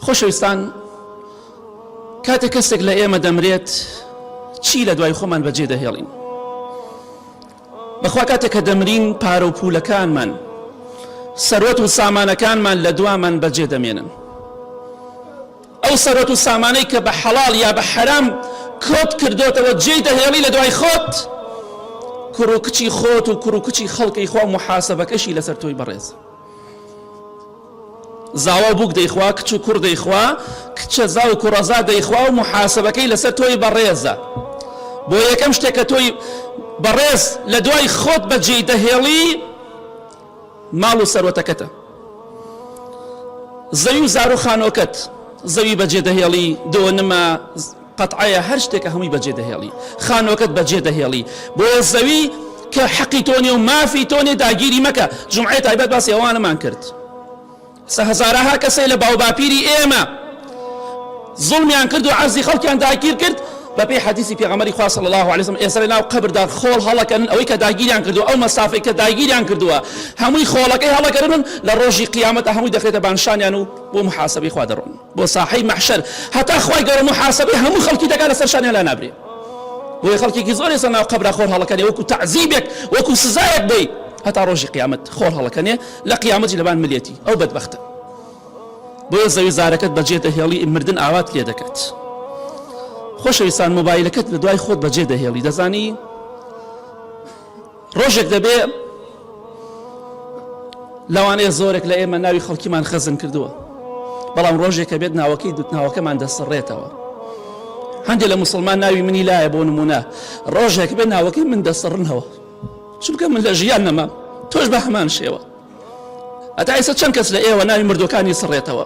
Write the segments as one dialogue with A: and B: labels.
A: خۆشەویستان کاتێک کەسێک لە ئێمە دەمرێت چی لە دوای خۆمان بەجێ دەهێڵین بەخوا کاتێک کە دەمرین پارە و پولەکانمان سەرۆت و سامانەکانمان لە دوامان بەجێ دەمێنن ئەو سەرۆت و سامانەی کە بە حەڵال یا بە حەرام کۆت کردوتەوە جێی دەهێڵی لە دوای خۆت کوڕ و کچی خۆت و کوڕ و کچی خەڵکی خوا محاسبەکەشی لەسەر تۆی بەڕێز زاوا و بووک دەیخوا، کچ و کوڕ دەیخوا، کچەزا و کوڕەزا دەیخوا و موحاسەبەکەی لەسەر تۆی بەڕێزە. بۆ یەکەم شتێک کە تۆی بەڕێز لە دوای خۆت بەجێی دەهێڵی ماڵ و سەروەتەکەتە. زەوی و زار و خانۆکەت زەوی بەجێ دەهێڵی دۆنمە قەتعەیە هەر شتێکە هەمووی بەجێ دەهێڵی خانوەکەت بەجێ دەهێڵی بۆیە زەوی کە حەقی تۆ نیە و مافی تۆ نیە داگیری مەکە جومعەی تایبەت باسی ئەوانەمان کرد سە هەزارەها کەسەی لە باوباپیری ئێمە زوڵمیان کرد و عەرزی خەڵکیان داگیر کرد بەپێی حەدیسی پێغەمەری خوا صلی الله علیه وسلم ئێستا لەناو قەبردا خۆڵ هەڵەکەن ئەوەی کە داگیریان کردو ئەو مەسافەی کە داگیریان کردووە هەمووی خۆڵەکەی هەڵەکەن لە ڕۆژی قیامەتە هەمووی دەخرێتە بانشانیان و بۆ محاسبەی خوا دەڕۆن بۆ ساحەی مەحشەر هەتا خوای گەورە موحاسەبەی هەموو خەڵکی دەکات لەسەر شانیان لا نابرێ بۆیە خەڵکێکی زۆر ئێستا ناو قەبرا خۆر هەڵەکەنێ وەکو تەعزیبێک وەکو سزایەک بۆی هەتا ڕۆژی قیامەت خۆر هەڵەکەنێ لە قیامەتی لەبان ملێتی ئەو بەدبەختە بۆیە زەوی زارەکەت بەجێ دەهێڵی مردن ئاوات لێ دەکات خۆشەویستان مۆبایلەکەت لە دوای خۆت بەجێ دەهێڵی دەزانی ڕۆژێک دەبێ لەوانەیە زۆرێک لە ئێمە ناوی خەڵکیمان خەزن کردووە بەڵام ڕۆژێکە بێت ناوەکەی دوتناوەکەمان دەسڕێتەوە هەندێک لە مسلمان ناوی منی لایە بۆ نمونە ڕۆژێک بێ ناوەکەی من دەسڕنەوە چونکە من لە ژیان نەما تۆش بە هەمان شێوە ئەتا ئیسە چەند کەس لە ئێوە ناوی مردەکانی سڕێتەوە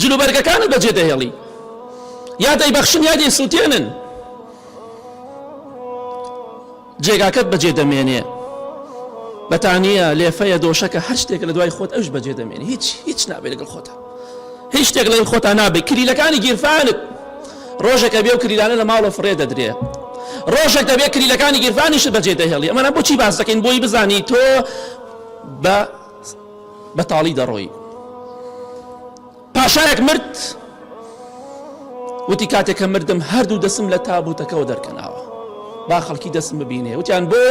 A: جلوبەرگەکانت بەجێ دەهێڵی یا دەیبەخشن یا دەیسووتێنن جێگاکەت بەجێ دەمێنێ بەتانە لێفەیە دۆشەکە هەر شتێک لە دوای خۆت ئەوش بەجێ دەمێنێ هیچ هیچ نابێت لەگەڵ خۆتە هیچ شتێک لەی خۆتان نابێت کلیلەکانی گیرفانت ڕۆژەکە بێ و کلیلانە لە ماڵە فڕێ دەدرێ ڕۆژێک دەبێت کلیلەکانی گیرفانیشت بەجێ دەهێڵی ئەمەە بۆچی باس دەکەین بۆی بزانی تۆ بە بەتاڵی دەڕۆی. پاشایەک مرد وتی کاتێک کە مردم هەردوو دەسم لە تابوتەکەەوە دەرکەناوە با خەڵکی دەسم ببینێ وتیان بۆ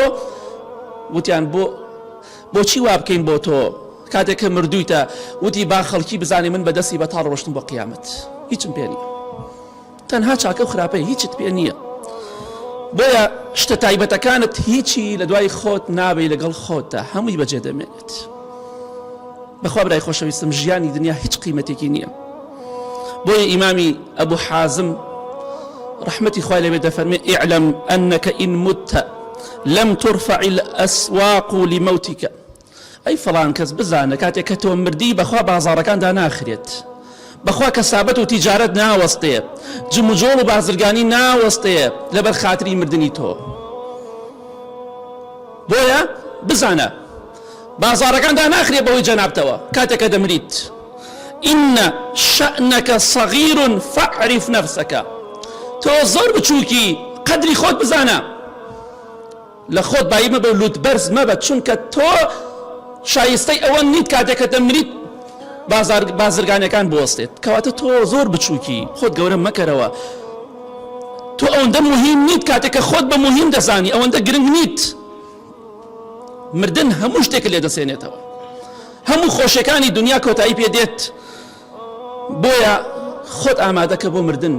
A: وتیان بۆ بۆچی وا بکەین بۆ تۆ کاتێک کە مردویتە وتی با خەڵکی بزانانی من بەدەستی بەتاڵ ڕۆشتم بۆ قیامەت هیچم پێنی تەنها چاکە و خراپەی هیچت پێ نیە بۆیە شتە تایبەتەکانت هیچی لە دوای خۆت نابی لەگەڵ خۆتدا هەمووی بەجێ دەمێنێت بەخوا برای خۆشەویستم ژیانی دنیا هیچ قیمەتێکی نییە بۆیە ئیمامی ئەبوو حازم رحمتي خوای لەوێ دەفەرمێ ئعلم أنك إن مت لم ترفع الأسواق لموتك ئەی فڵان کەس بزانە کاتێ کە تۆ مردی بەخوا بازاڕەکان داناخرێت بەخوا کەسابەت و تیجارەت ناوەستێ جموجۆڵ و بازرگانی ناوەستێ لەبەر خاتری مردنی تۆ بۆیە بزانە بازاڕەکان داناخرێ بەوەی جەنابتەوە کاتێک کە دەمریت ئینە شەنەکە سەغیرون فەعریف نەفسەکە تۆ زۆر بچووکی قەدری خۆت بزانە لە خۆت بایی مەبە و لوت بەرز مەبە چونکە تۆ شایستەی ئەوە نیت کاتێک کە دەمریت بازار بازرگانەکان بوەستێت کەواتە تۆ زۆر بچووکی خۆت گەورە مەکەرەوە تۆ ئەوەندە مهم نیت کاتێک کە خۆت بە مهم دەزانی ئەوەندە گرنگ نیت مردن هەموو شتێک لێ دەسێنێتەوە هەموو خۆشیەکانی دنیا کۆتایی پێ دێت بۆیە خۆت ئامادەکە بۆ مردن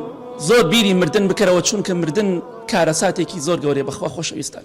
A: زۆر بیری مردن بکەرەوە چونکە مردن کارەساتێکی زۆر گەورەیە بەخوا خۆشەویستان